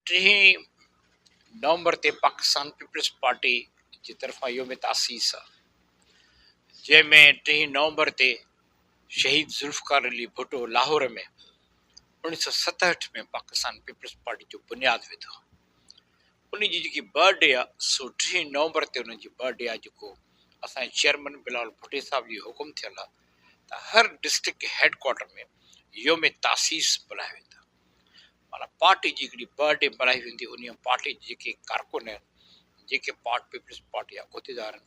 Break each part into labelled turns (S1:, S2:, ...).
S1: ٽيهين November تي پاڪستان پيپلز پارٽي جي طرفان يوم تاسيس آ جنهن ۾ ٽيهين نومبر تي شهيد ذوالفقار علي ڀٽو لاهور ۾ اوڻيهه سؤ ستهٺ ۾ پاڪستان پيپلز پارٽي جو بنياد وڌو ان جي جيڪي برٿ ڊي آ سو ٽيهين نومبر تي ان جي برٿ ڊي آ جيڪو اسان جي چيئرمن بلاول ڀٽي صاحب جي حڪم ٿيل آ ته هر ڊسٽرڪٽ هيڊ ڪوارٽر ۾ يوم تاسيس ملهايو ويندو معنيٰ پارٽي جي هڪڙي برڊي بنائي ويندي هئي، انهيء پارٽي جي جيڪي ڪارڪن آهن، جيڪي پارٽ پيپلز پارٽي جا عهديدار آهن،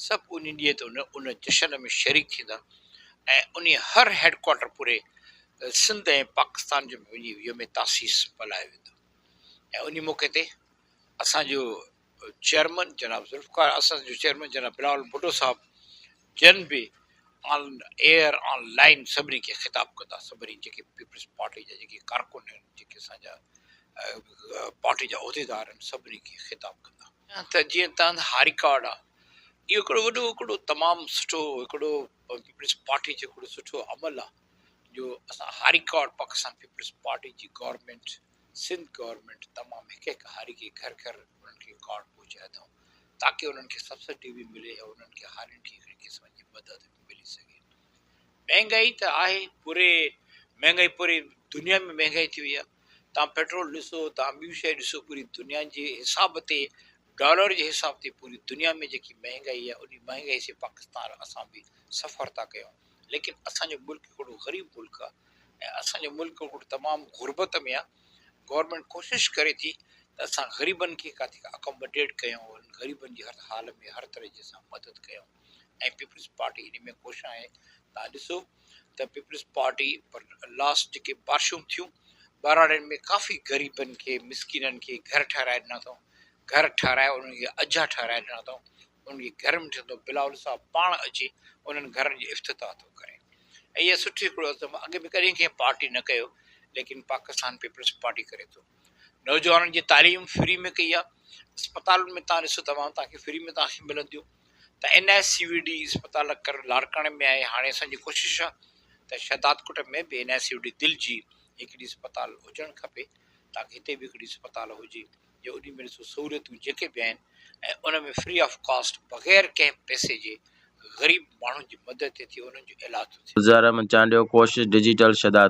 S1: سڀ انهيء ڏينهن تي ان جشن ۾ شريڪ ٿيندا ۽ انهيء هر هيڊڪوارٽر پوري سنڌ ۽ پاڪستان جو وڃي يوم تاسيس ملهايو ويندو ۽ انهيء موقعي تي اسان جو چيئرمن جناب ذوالفقار اسد جو چيئرمن جناب بلاول ڀٽو صاحب جن به آن ايئر آن لائين سڀني کي خطاب ڪندا سڀني جيڪي پيپلز پارٽي جا جيڪي ڪارڪن آهن جيڪي اسان جا پارٽي جا عهديدار آهن سڀني کي خطاب ڪندا ته جيئن تنهن هاء رڪارڊ آهي اهو هڪڙو وڏو هڪڙو تمام سٺو هڪڙو پيپلز پارٽي جو هڪڙو سٺو عمل آهي جو اسان هاء رڪارڊ پاڪستان پيپلز پارٽي جي گورنمينٽ سنڌ گورنمينٽ تمام هڪ هڪ هاري کي گهر گهر انهن کي ڪارڊ پهچائي اٿئون تاڪه انهن کي سبسڊي به ملي ۽ انهن کي هارين کي هڪڙي قسم جي مدد به ملي سگهي. مهنگائي ته آهي پوري مهنگائي پوري دنيا ۾ مهنگائي ٿي وئي آهي توهان پيٽرول ڏسو توهان ٻيون شيون ڏسو پوري دنيا جي حساب تي ڊالر جي حساب تي پوري دنيا ۾ جيڪي مهنگائي آهي انهي مهنگائي سي پاڪستان اسان به سفر ٿا ڪيون ليڪن اسان جو ملڪ هڪڙو غريب ملڪ آ ۽ اسان جو ملڪ هڪڙو تمام غربت ۾ آ گورنمينٽ ڪوشش ڪري ٿي ته اسان غريبن کي ڪاٿي اڪاموڊيٽ ڪيون انهن غريبن جي هر حال ۾ هر طرح جي اسان مدد ڪيون ۽ پيپلز پارٽي انهي ۾ خوش آهي تان ڏسو ته پيپلز پارٽي پر لاسٽ جيڪي بارشون ٿيون ٻهراڙين ۾ ڪافي غريبن کي مسڪينن کي گهر ٺهرائي ڏنا اٿئون گهر ٺهرائي انهن کي اجها ٺهرائي ڏنا اٿئون ان کي گهر ۾ ٺھندو بلاول صاحب پاڻ اچي انهن گهرن جي افتتاح ٿو ڪري ۽ اهي سٺي هڪڙو عزم اڳ به ڪڏهن ڪنهن پارٽي نه ڪيو ليڪن پاڪستان پيپلز پارٽي ڪري ٿو نوجوانن جي تعليم فري ۾ ڪئي آهي اسپتالن ۾ تان ڏسو دوائون تان کي فري ۾ تان کي ملنديون ته N I C V D اسپتال ڪر لاڙڪاڻي ۾ آهي هاڻي اسان جي ڪوشش آهي ته شهداد ڪٽ ۾ به N I C V D دل جي هڪڙي اسپتال هجڻ کپي تاڪي هتي به هڪڙي اسپتال هجي جو انهي ۾ ڏسو سهوليتون جيڪي به آهن ۽ ان ۾ فري آف ڪاسٽ بغير ڪنهن پئسي جي غريب ماڻهن
S2: جي
S1: مدد ٿي ٿئي
S2: انهن جو
S1: علاج ٿو
S2: ٿئي.
S1: گذارا ۾ چانڊيو
S2: ڪوشش
S1: ڊجيٽل شھداد.